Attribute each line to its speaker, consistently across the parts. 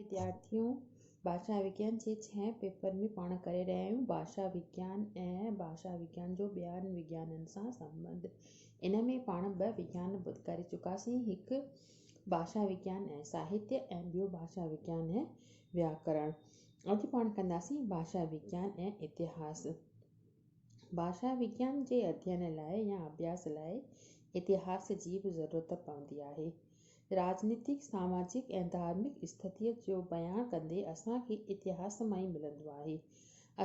Speaker 1: وديارٿيون ڀاشا وگيان جي ڇهين پيپر ۾ پاڻ ڪري رهيا آهيون. ڀاشا وگيان ۽ ڀاشا وگيان جو ٻين وگيانن سان سنٻنڌ. ان ۾ پاڻ ٻه وگيان ڪري چڪاسين، هڪ ڀاشا وگيان ۽ ساهتيه ۽ ٻيو ڀاشا وگيان ۽ وياڪرڻ. اڄ پاڻ ڪنداسين ڀاشا وگيان ۽ اتهاس. ڀاشا وگيان جي اڌين لاء يا اڀياس لاء اتهاس جي به ضرورت پوندي آهي. راڄنيتڪ، ساماجڪ ۽ ڌارمڪ استٿيء جو بيان ڪندي اسان کي اتهاس مان ئي ملندو آهي.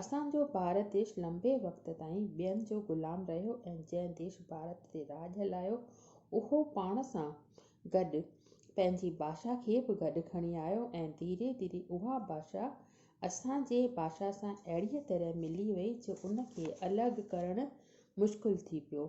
Speaker 1: اسان جو ڀارت ديش لنبي وقت تائين ٻين جو غلام رهيو ۽ جنهن ديش ڀارت تي راڄ هلايو اهو پاڻ سان گڏ پنهنجي ڀاشا کي به گڏ کڻي آيو ۽ ڌيري ڌيري اها ڀاشا اسان جي ڀاشا سان اهڙيء طرح ملي وئي جو ان کي الڳ ڪرڻ مشڪل ٿي پيو.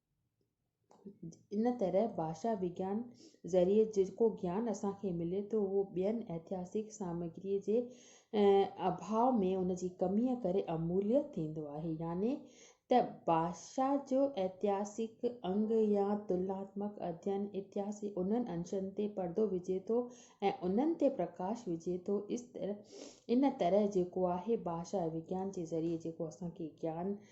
Speaker 1: ان طرح ڀاشا وگيان ذريعي جيڪو گيان اسان کي ملي ٿو اهو ٻين اتهاسڪ سامگري جي اڀاء ۾ ان جي ڪمي ڪري اموليء ٿيندو آهي يعني ته ڀاشا جو اتهاسڪ انگ يا تلناتمڪ اڌين اتهاس جي انهن انشن تي پردو وجهي ٿو ۽ انهن تي پرڪاش وجهي ٿو ان طرح جيڪو آهي ڀاشا وگيان جي ذريعي جيڪو اسان کي گيان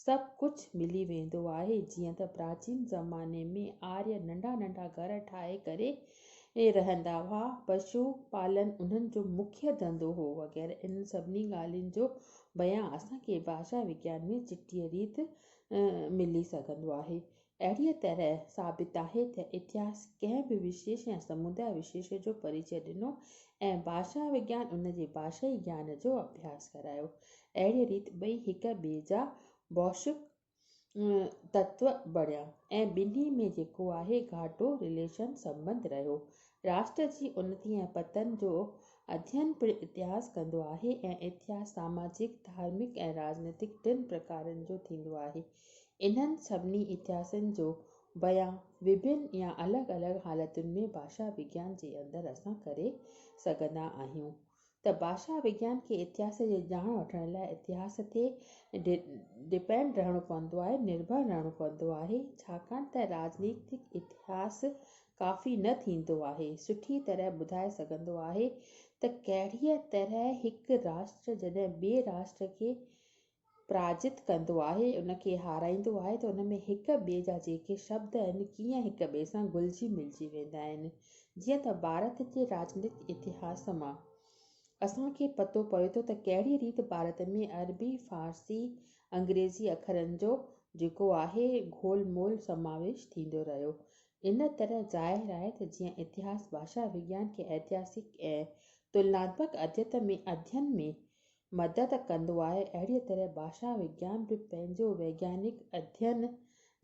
Speaker 1: سڀ ڪجهه ملي ويندو آهي، جيئن ته پراچين زماني ۾ آريه ننڍا ننڍا گهر ٺاهي ڪري رهندا هئا، پشو پالن انهن جو مکيه ڌنڌو هو وغيره انهن سڀني ڳالهين جو بيان اسان کي ڀاشا وگيان ۾ چٽيء ريت ملي سگهندو آهي. اهڙيء طرح ثابت آهي ته اتهاس ڪنهن به وشيش يا سموداء وشيش جو پريچئه ڏنو ۽ ڀاشا وگيان ان جي ڀاشائي گيان جو اڀياس ڪرايو. اهڙيء ريت ٻئي هڪ ٻئي جا بوشڪ تتو بڻيا ۽ ٻنهي ۾ جيڪو آهي گهاٽو، Relation، سنٻنڌ رهيو. راشٽر جي انتي ۽ پتن جو اڌين پڻ اتهاس ڪندو آهي ۽ اتهاس ساماجڪ، ڌارمڪ ۽ راڄنيتڪ ٽن پرڪارن جو ٿيندو آهي. انهن سڀني اتهاسن جو بيان وڀن يا الڳ الڳ حالتن ۾ ڀاشا وگيان جي اندر اسان ڪري سگهندا آهيون ته ڀاشا وگيان کي اتهاس جي ڄاڻ وٺڻ لاء اتهاس تي ڊپينڊ رهڻو پوندو آهي، نرڀر رهڻو پوندو آهي، ڇاڪاڻ ته راڄنيتڪ اتهاس ڪافي نه ٿيندو آهي سٺي طرح ٻڌائي سگهندو آهي ته ڪهڙيء طرح هڪ راشٽر جڏهن ٻئي راشٽر کي پراجت ڪندو آهي، ان کي هارائيندو آهي ته ان ۾ هڪ ٻئي جا جيڪي شبد آهن، ڪيئن هڪ ٻئي سان گهلجي ملجي ويندا آهن. جيئن ته ڀارت جي راڄنيتڪ اتهاس مان اسان کي پتو پوي ٿو ته ڪهڙي ريت ڀارت ۾ عربي، فارسي، انگريزي اکرن جو جيڪو آهي گهول مول سماويش ٿيندو رهيو. ان طرح ظاهر آهي ته جيئن اتهاس ڀاشا وگيان کي ائتهاسڪ ۽ تلناتمڪ اديت ۾ ادين ۾ مدد ڪندو آهي، اهڙيء طرح ڀاشا وگيان به پنهنجو ويگيانڪ اڌين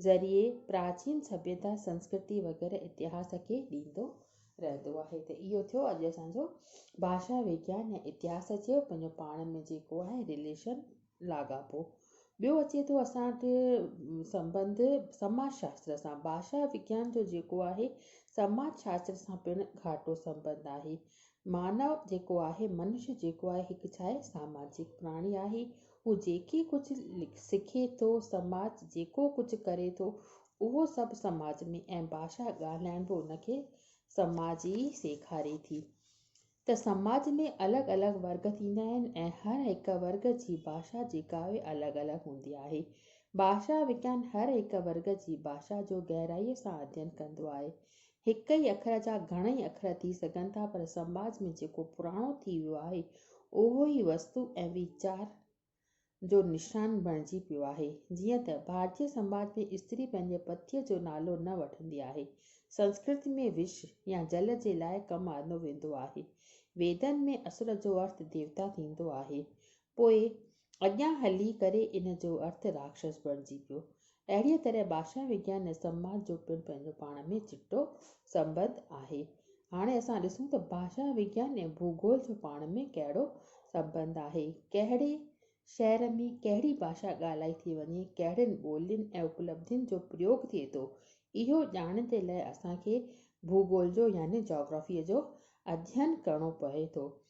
Speaker 1: ذريعي پراچين سڀيتا، سنسڪرتي وغيره اتهاس کي ڏيندو رهندو آهي ته اهو ٿيو اڄ اسان جو ڀاشا وگيان يا اتهاس چئو پنهنجو پاڻ ۾ جيڪو آهي رليشن لاڳاپو. ٻيو اچي ٿو اسان وٽ سنبنڌ سماج شاستر سان، ڀاشا وگيان جو جيڪو آهي سماج شاستر سان پڻ گهاٽو سنبنڌ آهي، مانو جيڪو آهي، منش جيڪو آهي، هڪ ڇا آهي، ساماجڪ پراڻي آهي. هو جيڪي ڪجهه سکي ٿو، سماج جيڪو ڪجهه ڪري ٿو، اهو سڀ سماج ۾ ۽ ڀاشا ڳالهائڻ به ان کي سماج ئي سيکاري ٿي ته سماج ۾ الڳ الڳ ورگ ٿيندا آهن ۽ هر هڪ ورگ جي ڀاشا جيڪا آهي الڳ الڳ هوندي آهي. ڀاشا وگيان هر هڪ ورگ جي ڀاشا جو گهرائيء سان اڌين ڪندو آهي. هڪ ئي اکر جا گهڻئي اکر ٿي سگهن ٿا پر سماج ۾ جيڪو پراڻو ٿي ويو آهي اهو ئي وستو ۽ ويچار جو نشان بڻجي پيو آهي. جيئن ته ڀارتي سماج ۾ استري پنهنجي پتيء جو نالو نه وٺندي آهي. سنسڪرت ۾ وش يا جل جي لاء ڪم آندو ويندو آهي. ويدن ۾ اسور جو ارٿ ديوتا ٿيندو آهي. پوء اڳيان هلي ڪري ان جو ارٿ راڪشس بڻجي پيو. اهڙيء طرح ڀاشا وگيان ۽ سنواد جو پڻ پنهنجو پاڻ ۾ چٽو سنٻنڌ آهي. هاڻي اسان ڏسون ته ڀاشا وگيان ۽ ڀوڳول جو پاڻ ۾ ڪهڙو سنٻنڌ آهي. ڪهڙي شهر ۾ ڪهڙي ڀاشا ڳالهائي ٿي وڃي، ڪهڙين ٻولين ۽ اپلبڌين جو پريوڳ ٿئي ٿو، اهو ڄاڻڻ جي لاء اسان کي ڀوڳول جو يعني جاگرافيء جو اڌين ڪرڻو پوي ٿو.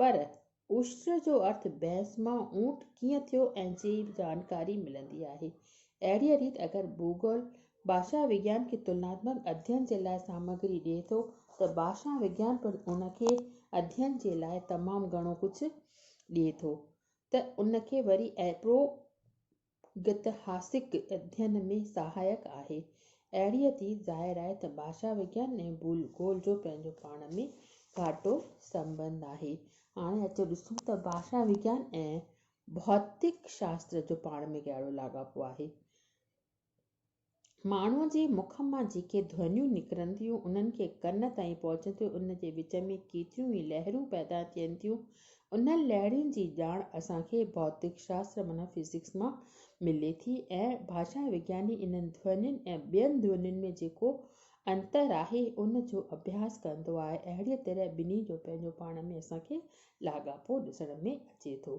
Speaker 1: پر عشر جو ارٿ بحث مان اونٽ ڪيئن ٿيو ۽ جي جانڪاري ملندي آهي. اهڙيء ريت اگر ڀوڳول ڀاشا وگيان کي تلناتمڪ اڌين جي لاء سامگري ڏئي ٿو ته ڀاشا وگيان پڻ ان کي اڌين جي لاء تمام گهڻو ڪجهه ڏئي ٿو ته ان کي وري اهڙو گتهاسڪ اڌين ۾ سهائڪ آهي. اهڙيء ٿي ظاهر آهي ته ڀاشا وگيان ۽ ڀول گول جو پنهنجو پاڻ ۾ گهاٽو سنٻنڌ آهي. هاڻي اچو ڏسون ته ڀاشا وگيان ۽ ڀوتڪ شاستر جو پاڻ ۾ ڪهڙو لاڳاپو آهي. ماڻهوء جي مک مان جيڪي ڌونيون نڪرن ٿيون، انهن کي ڪن تائين پهچندي ان جي وچ ۾ ڪيتريون ئي لهرون پيدا ٿين ٿيون. انهن لهرين جي ڄاڻ اسان کي ڀوتڪ شاستر معنيٰ فزڪس مان ملي ٿي ۽ ڀاشا وگياني انهن ڌونين ۽ ٻين ڌونين ۾ جيڪو انتر آهي، ان جو اڀياس ڪندو آهي. اهڙيء طرح ٻنهي جو پنهنجو پاڻ ۾ اسان کي لاڳاپو ڏسڻ ۾ اچي ٿو.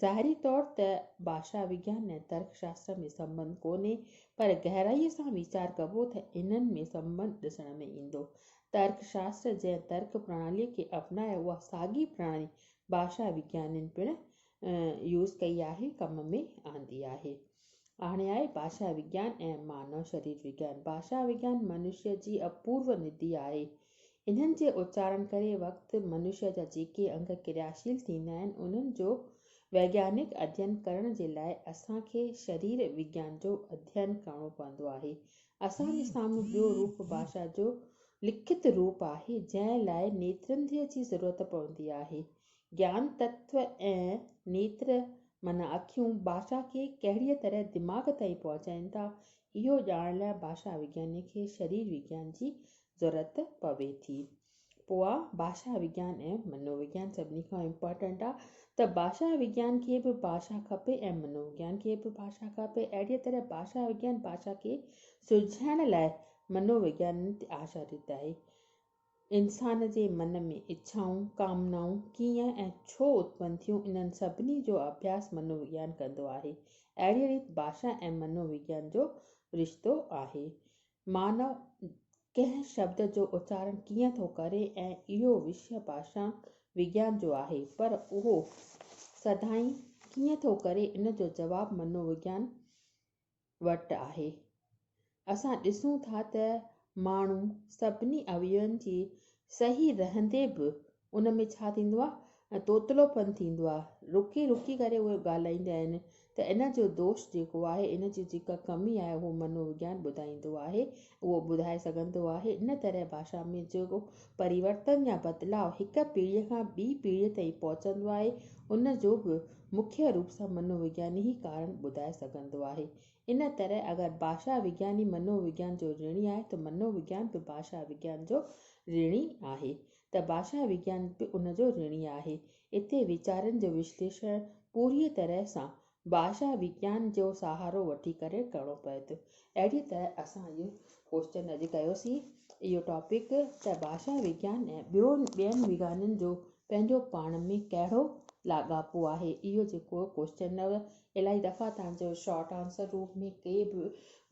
Speaker 1: ظاهري طور ته ڀاشا وگيان ۽ ترڪ شاستر ۾ سنٻنڌ ڪونهي، پر گهرائيء سان ويچار ڪبو ته انهن ۾ سنٻنڌ ڏسڻ ۾ ايندو. ترڪ شاستر جنهن ترڪ پرڻاليء کي اپنائي اها ساڳي پرڻالي ڀاشا وگيانين پڻ يوز ڪئي آهي، ڪم ۾ آندي آهي. آڻي آهي ڀاشا وگيان ۽ مانو شرير وگيان. ڀاشا وگيان منشيء جي اپورو ندي آهي. انهن جي اچارڻ ڪري وقت منشيا جا جيڪي انگ ڪرياشيل ٿيندا آهن انهن جو ويگيانڪ اڌين ڪرڻ جي لاء اسان کي شرير وگيان جو اڌين ڪرڻو پوندو آهي. اسان جي سامهون ٻيو روپ ڀاشا جو لکت روپ آهي جنهن لاء نيترنڌيء جي ضرورت پوندي آهي. گيان تتو ۽ نيتر معنيٰ اکيون ڀاشا کي ڪهڙيء طرح دماغ تائين پهچائين ٿا اهو ڄاڻڻ لاء ڀاشا وگياني کي شرير وگيان جي ضرورت پوي ٿي پوء ڀاشا وگيان ۽ منو وگيان سڀني کان امپارٽنٽ آ ته ڀاشا وگيان کي به ڀاشا کپي ۽ منو وگيان کي به ڀاشا کپي اهڙي طرح ڀاشا وگيان ڀاشا کي سلجهائڻ لاء منو وگيان تي آشاريت آهي انسان جي من ۾ اڇائون ڪامنائون ڪيئن ۽ ڇو اتپن ٿيون انهن سڀني جو اڀياس منو وگيان ڪندو آهي اهڙي ريت ڀاشا ۽ منو وگيان جو رشتو آهي مانو ڪنهن شبد جو اچارڻ ڪيئن ٿو ڪري ۽ اهو وشيه ڀاشا وگيان جو آهي پر اهو سڌائين ڪيئن ٿو ڪري ان جو جواب منو وگيان وٽ آهي. اسان ڏسون ٿا ته ماڻهو سڀني اويون جي صحيح رهندي به ان ۾ ڇا ٿيندو آهي ۽ توتلو پن ٿيندو آهي رڪي رڪي ڪري اهي ڳالهائيندا آهن ته ان جو دوش جيڪو آهي ان جي جيڪا ڪمي آهي اهو منو وگيان ٻڌائيندو آهي اهو ٻڌائي سگهندو آهي ان طرح ڀاشا ۾ جيڪو پريورتن يا بدلاء هڪ پيڙهي کان ٻي پيڙهي تائين پهچندو آهي ان جو به مکيه روپ سان منو وگياني ئي ڪارڻ ٻڌائي سگهندو آهي ان طرح اگر ڀاشا وگياني منو وگيان جو رڻي آهي ته منو وگيان به ڀاشا وگيان جو رڻي آهي ته ڀاشا وگيان به ان جو رڻي آهي. اتي ويچارن جو وشليشڻ پوريء طرح سان ڀاشا وگيان جو سهارو وٺي ڪري ڪرڻو پوي ٿو. اهڙيء طرح اسان اهو ڪوئسچن اڄ ڪيوسين، اهو ٽاپڪ، ته ڀاشا وگيان ۽ ٻيون ٻين وگيانن جو پنهنجو پاڻ ۾ ڪهڙو لاڳاپو آهي. اهو جيڪو ڪوئسچن هو، الائي دفعا توهان جو شارٽ آنسر روپ ۾ ڪي به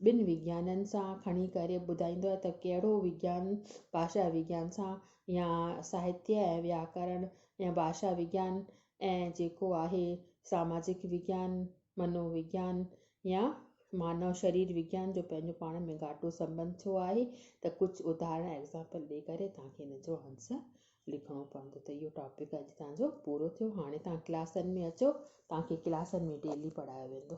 Speaker 1: ٻن وگيانن سان کڻي ڪري ٻڌائيندو آهي ته ڪهڙو وگيان ڀاشا وگيان سان يا ساهتيه ۽ وياڪرڻ ۽ ڀاشا وگيان ۽ جيڪو آهي ساماجڪ وگيان، منو وگيان يا مانو شرير وگيان جو پنهنجو پاڻ ۾ گهاٽو سنٻنڌ ڇو آهي ته ڪجهه اداهرڻ، Example، ڏئي ڪري توهان کي ان جو آنسر لکڻو پوندو ته اهو ٽاپڪ اڄ توهان جو پورو ٿيو هاڻي توهان ڪلاسن ۾ اچو توهان کي ڪلاسن ۾ ڊيلي پڙهايو ويندو.